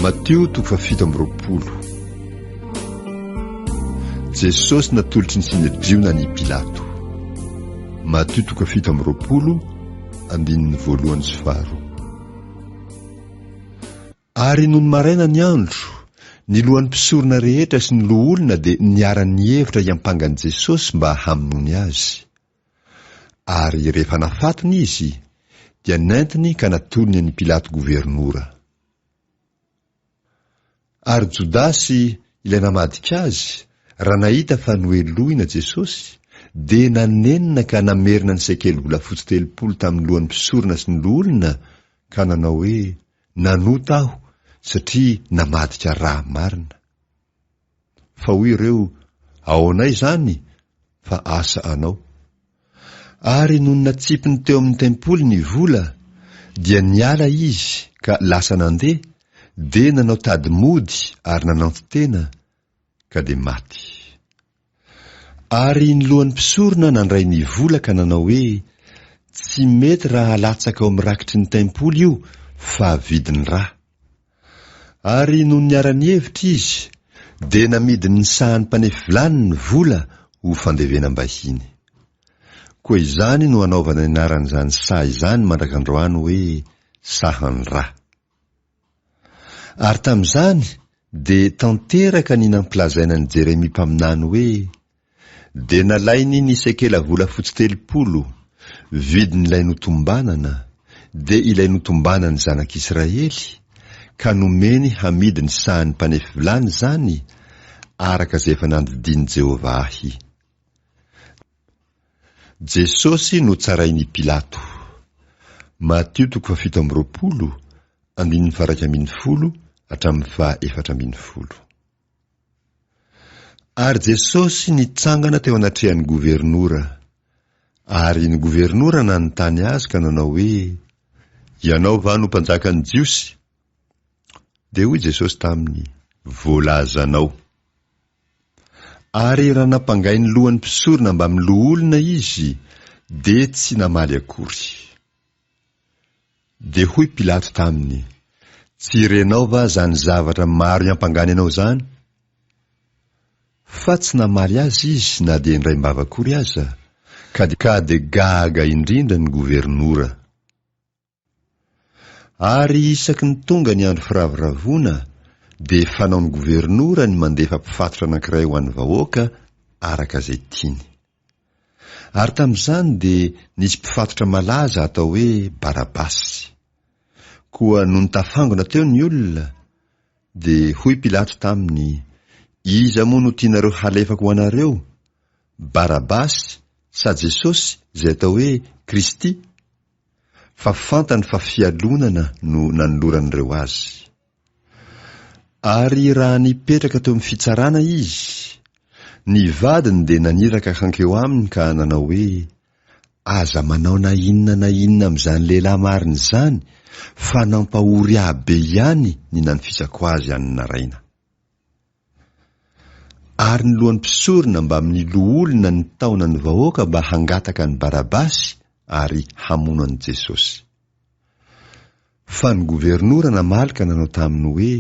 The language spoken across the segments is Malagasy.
Matio toko fahafito amby roapolo. Jesosy natolotry ny Sinedriona an' i Pilato. Matio toko fahafito amby roapolo andininy voalohany sy faharoa. Ary nony maraina ny andro, ny lohan'ny mpisorona rehetra sy ny loholona dia niara-nihevitra hiampanga an'i Jesosy mba hamonoany azy. Ary rehefa nafatony izy, dia nentiny ka natolony an'i Pilato governora. Ary Jodasy, ilay namadika azy, raha nahita fa nohelohina Jesosy, dia nanenina ka namerina ny sekely volafotsy telopolo tamin'ny lohan'ny mpisorona sy ny loholona, ka nanao hoe, Nanota aho, satria namadika ra marina. Fa hoy ireo, Aonay izany? Fa asa anao. Ary nony natsipiny teo amin'ny tempoly ny vola, dia niala izy ka lasa nandeha, dia nanao tady mody ary nananti-tena, ka dia maty. Ary ny lohan'ny mpisorona nandray ny vola ka nanao hoe, Tsy mety raha halatsaka ao amin'ny rakitry ny tempoly io, fa vidiny ra. Ary nony niara-nihevitra izy, dia namidin'ny sahan'ny mpanefy vilany ny vola ho fandevenam-bahiny. Koa izany no anaovana ny anaran'izany saha izany mandrak'androany hoe, Sahan'ny ra. Ary tamin'izany dia tanteraka ny nampilazaina an'i Jeremia mpaminany hoe, Dia nalainy ny sekela volafotsy telopolo, vidin'ilay notombanana, dia ilay notombanan'ny zanak'Israely, ka nomeny hamidy ny sahan'ny mpanefy vilany izany, araka izay efa nandidian'i Jehovah ahy. Jesosy notsarain'i Pilato. Matio toko fahafito amby roapolo, andininy faharaika ambin'ny folo hatramin'ny fahaefatra ambin'ny folo. Ary Jesosy nitsangana teo anatrehan'ny governora. Ary ny governora nanontany azy ka nanao hoe, Ianao va no mpanjakan'ny Jiosy? Dia hoy Jesosy taminy, Voalazanao. Ary raha nampangay ny lohan'ny mpisorona mbamin'ny loholona izy, dia tsy namaly akory. Dia hoy Pilato taminy, Tsy renao va zany zavatra maro iampangany anao zany? Fa tsy namaly azy izy na dia indray mbava akory aza, ka dia gaga indrindra ny governora. Ary isaky ny tonga ny andro firavoravoana dia fanaon'ny governora ny mandefa mpifatotra anankiray ho an'ny vahoaka araka izay tiany. Ary tamin'izany dia nisy mpifatotra malaza atao hoe Barabasy. Koa nony tafangona teo ny olona, dia hoy Pilato taminy, Iza moa no tianareo halefako ho anareo? Barabasy sa Jesosy izay atao hoe Kristy? fa fantany fa fialonana no nanoloran'ireo azy. Ary raha nipetraka teo amin'ny fitsarana izy, ny vadiny dia naniraka hankeo aminy ka nanao hoe, Aza manao na inona na inona amin'izany lehilahy marina izany, fa nampahory ahy be ihany ny nanfitsako azy any naraina. Ary ny lohan'ny mpisorona mbamin'ny loholona nitaona ny vahoaka mba hangataka an'i Barabasy ary hamono an'i Jesosy. Fa ny governora namaly ka nanao taminy hoe,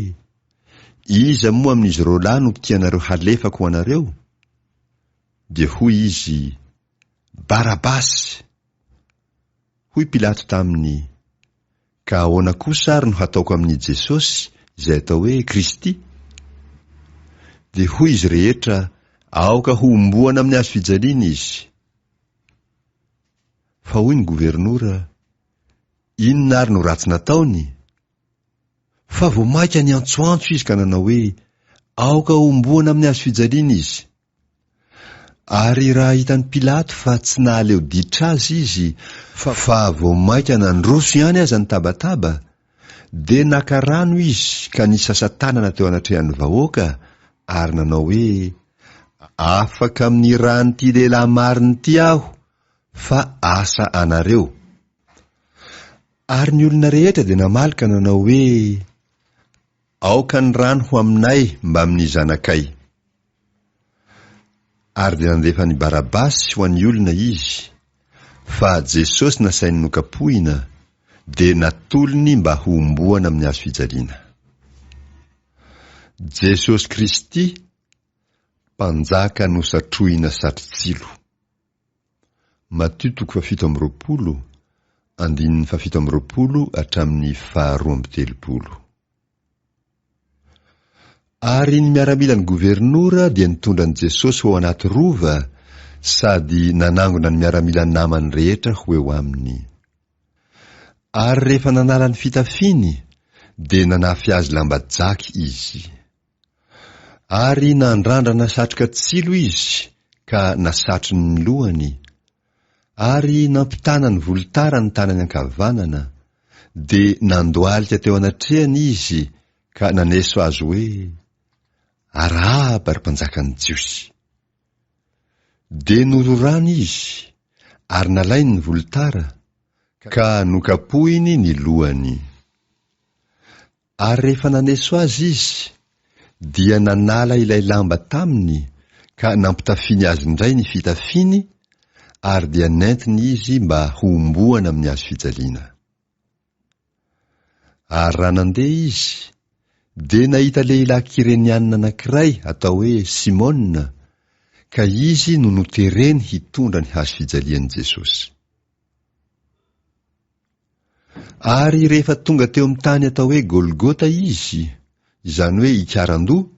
Iza moa amin'izy roalahy no tianareo halefako ho anareo? Dia hoy izy, Barabasy! Hoy Pilato taminy, Ka ahoana kosa ary no hataoko amin'i Jesosy izay atao hoe Kristy? Dia hoy izy rehetra, Aoka hohomboana amin'ny hazo fijaliana izy! Fa hoy ny governora, Inona ary no ratsy nataony? Fa vao mainka niantsoantso izy ka nanao hoe, Aoka hohomboana amin'ny hazo fijaliana izy! Ary raha hitan'i Pilato fa tsy nahaleo ditra azy izy fa vao mainka nandroso ihany aza ny tabataba, dia naka rano izy ka nisasa-tanana teo anatrehan'ny vahoaka ary nanao hoe, Afaka amin'ny ran'ity lehilahy marina ity aho, fa asa anareo. Ary ny olona rehetra dia namaly ka nanao hoe, Aoka ny rany ho aminay mbamin'ny zanakay. Ary dia nandefa an'i Barabasy ho an'ny olona izy, fa Jesosy nasainy nokapohina dia natolony mba hohomboana amin'ny hazo fijaliana. Jesosy Kristy, Mpanjaka nosatrohina satrotsilo. Matio toko fahafito amby roapolo, andininy fahafito amby roapolo hatramin'ny faharoa amby telopolo. Ary ny miaramilan'ny governora dia nitondra an'i Jesosy ho ao anaty rova sady nanangona ny miaramila namany rehetra ho eo aminy. Ary rehefa nanala ny fitafiny, dia nanafy azy lamba jaky izy. Ary nandrandrana satroka tsilo izy ka nasatriny ny lohany, ary nampitana ny volotara ny tanany ankavanana, dia nandohalika teo anatrehany izy ka naneso azy hoe, Arahaba, ry mpanjakan'ny Jiosy! Dia nororany izy, ary nalainy ny volotara, ka nokapohiny ny lohany. Ary rehefa naneso azy izy, dia nanala ilay lamba taminy ka nampitafiany azy indray ny fitafiany, ary dia nentiny izy mba homboana amin'ny hazo fijaliana. Ary raha nandeha izy, dia nahita lehilahy Kireniana anankiray atao hoe Simona, ka izy no notereny hitondra ny hazo fijalian'i Jesosy. Ary rehefa tonga teo amin'ny tany atao hoe Golgota Izy, izany hoe Ikarandoha,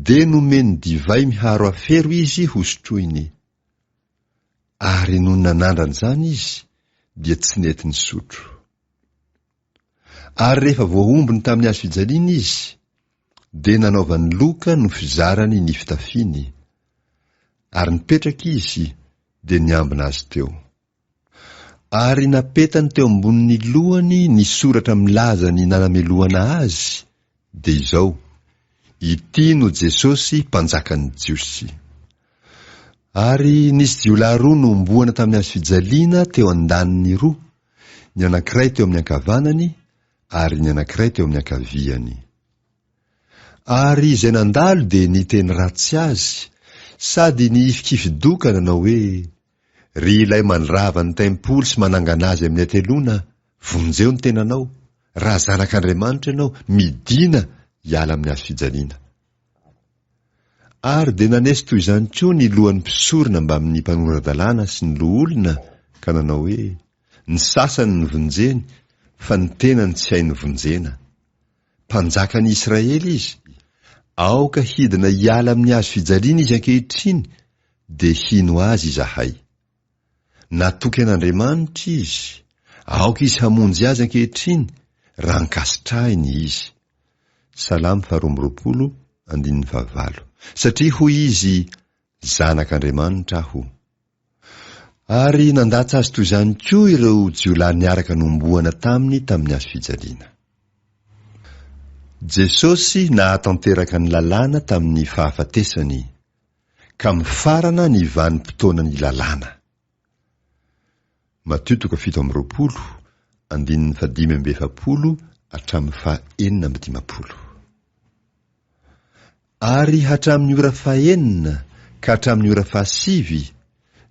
dia nomeny divay miharo afero Izy hosotroiny. Ary nony nanandrana izany Izy, dia tsy nety nisotro. Ary rehefa voaombiny tamin'ny hazo fijaliana Izy, dia nanaovany loka no fizarany ny fitafiany. Ary nipetraka Izy, dia niambina Azy teo. Ary napetany teo ambonin'ny lohany ny soratra milaza ny nanamelohana Azy, dia izao, Ity no Jesosy Mpanjakan'ny Jiosy. Ary nisy jiolahy roa nohomboana tamin'ny hazo fijaliana teo an-daniny roa, ny anankiray teo amin'ny ankavanany, ary ny anankiray teo amin'ny ankaviany. Ary izay nandalo dia niteny ratsy Azy, sady nihifikifi-doka nanao hoe, Ry Ilay mandrava ny tempoly sy manangana azy amin'ny hateloana, vonjeo ny tenanao, raha zanak'Andriamanitra ianao, midìna hiala amin'ny hazo fijaliana. Ary dia nanesy toy izany koa ny lohan'ny mpisorona mbamin'ny mpanora-dalàna sy ny loholona, ka nanao hoe, Ny sasany ny vonjeny, fa ny tenany tsy hay ny vonjena. Mpanjakan'ny Israely izy, aoka hidina hiala amin'ny hazo fijaliana izy ankehitriny, dia hino azy izahay. Natoky an'Andriamanitra izy, aoka izy hamonjy azy ankehitriny, raha ankasitrahiny izy. Salamo faharoa amby roapolo, andininy fahavalo. Satria hoy izy, Zanak'Andriamanitra aho. Ary nandatsa azy toy izany koa ireo jiolahy niaraka nomboana taminy tamin'ny hazo fijaliana. Jesosy nahatanteraka ny lalàna tamin'ny fahafatesany, ka mifarana ny vanim-potoanan'ny lalàna. Matio toko fito amby roapolo, andininy fahadimy amby efapolo hatramin'ny fahenina amby dimampolo. Ary hatramin'ny ora fahenina ka hatramin'ny ora fahasivy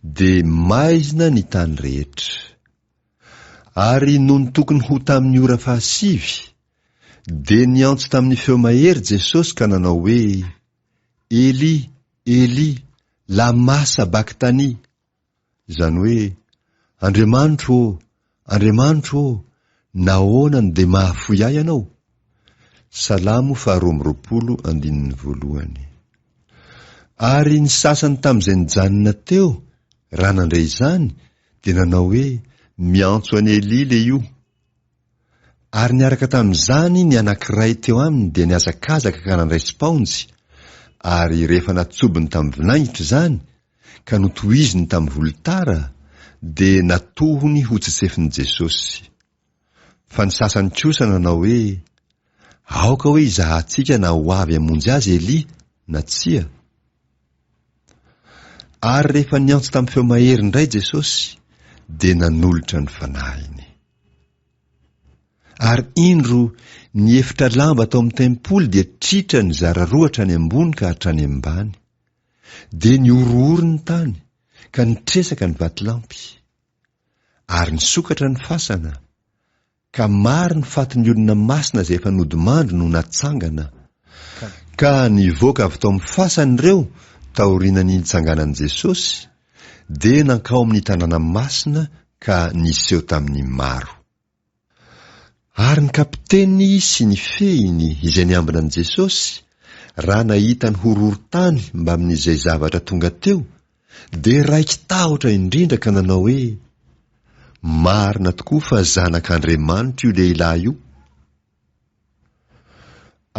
dia maizina ny tany rehetra. Ary nony tokony ho tamin'ny ora fahasivy, dia niantso tamin'ny feo mahery Jesosy ka nanao hoe, Eli, Eli, lama sabakthani? Izany hoe, Andriamanitro ô, Andriamanitro ô, nahoana no dia mahafoy ahy Ianao? Salamo faharoa amby roapolo, andininy voalohany. Ary ny sasany tamin'izay nijanona teo, raha nandre izany, dia nanao hoe, Miantso an'i Elia le io. Ary niaraka tamin'izany ny anankiray teo aminy dia nihazakazaka ka nandray sipaonjy, ary rehefa natsobony tamin'ny vinaingitra izany, ka notohiziny tamin'ny volotara dia natohony hotsetsefiny Jesosy. Fa ny sasany kosa nanao hoe, Aoka hoe hizahantsika na ho avy hamonjy azy Elia na tsia. Ary rehefa niantso tamin'ny feo mahery indray Jesosy, dia nanolotra ny fanahiny. Ary indro, ny efitra lamba tao amin'ny tempoly dia tritra nizara roa hatrany ambony ka hatrany ambany. Dia nihorohoro ny tany ka nitresaka ny vatolampy. Ary nisokatra ny fasana, ka maro ny fatin'ny olona masina izay efa nodimandry no natsangana, ka nivoaka avy tao amin'ny fasana ireo taoriana ny nitsanganan'i Jesosy, dia nankao amin'ny tanàna masina ka niseho tamin'ny maro. Ary ny kapiteny sy ny fehiny izay niambina an'i Jesosy, raha nahita ny horohorontany mbamin'izay zavatra tonga teo, dia raiki-tahotra indrindra ka nanao hoe, Marina tokoa fa Zanak'Andriamanitra io lehilahy io.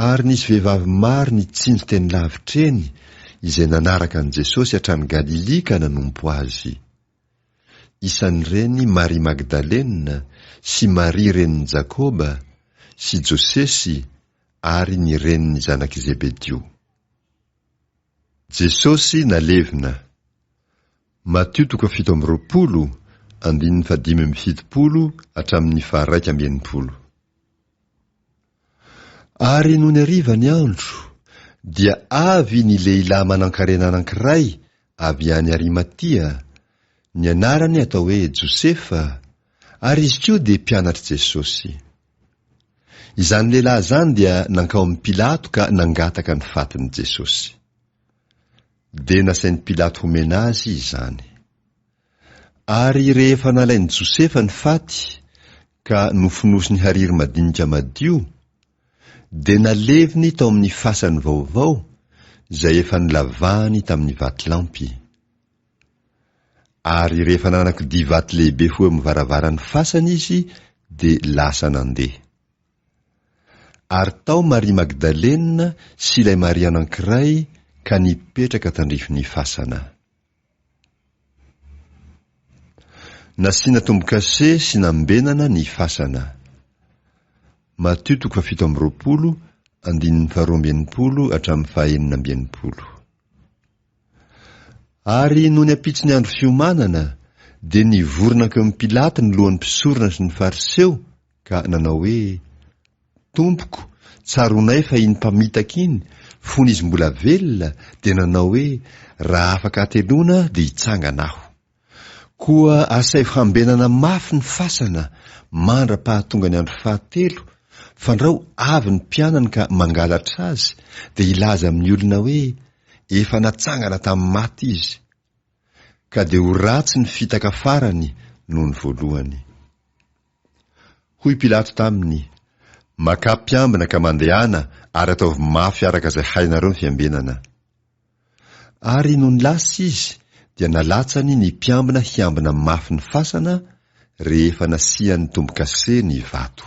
Ary nisy vehivavy maro nitsilo teny lavitra eny, izay nanaraka an'i Jesosy hatrany Galilia ka nanompo Azy. Isan'ireny Maria Magdalena sy Maria renin'i Jakoba sy Josesy ary ny renin'ny zanak'i Zebedio. Jesosy nalevina. Matio toko fito amby roapolo, andininy fahadimy amby fitopolo hatramin'ny faha-raika amby enimpolo. Ary nony hariva ny andro, dia avy ny lehilahy manankarena anankiray avy any Arimatia, ny anarany atao hoe Josefa, ary izy koa dia mpianatr'i Jesosy. Izany lehilahy izany dia nankao amin'i Pilato ka nangataka ny fatin'i Jesosy. Dia nasain'i Pilato homena azy izany. Ary rehefa nalain'i Josefa ny faty ka nofonosiny hariry madinika madio, dia naleviny tao amin'ny fasany vaovao izay efa nolavahany tamin'ny vatolampy. Ary rehefa nanakidia vato lehibe ho eo amin'ny varavaran'ny fasany izy dia lasa nandeha. Ary tao Maria Magdalena sy ilay Maria anankiray ka nipetraka tandrifin'ny fasana. Nasiana tombo-kase sy nambenana ny fasana. Matio toko fahafito amby roapolo, andininy faharoa amby enimpolo hatramin'ny fahaenina amby enimpolo. Ary nony ampitso ny andro fiomanana, dia nivory nankeo amin'i Pilato ny lohan'ny mpisorona sy ny Fariseo, ka nanao hoe, Tompoko, tsaronay fa iny mpamitaka iny, fony izy mbola velona, dia nanao hoe, Raha afaka hateloana, dia hitsangana aho. Koa asaivo hambenana mafy ny fasana mandra-pahatonga ny andro fahatelo, fandrao avy ny mpianany ka mangalatra azy, dia hilaza amin'ny olona hoe, Efa natsangana tamin'ny maty izy. Ka dia ho ratsy ny fitaka farany noho ny voalohany. Hoy Pilato taminy, Makà mpiambina ka mandehana ary ataovy mafy araka izay hainareo ny fiambenana. Ary nony lasa izy dia nalatsany ny mpiambina hiambina mafy ny fasana rehefa nasian'ny tombo-kase ny vato.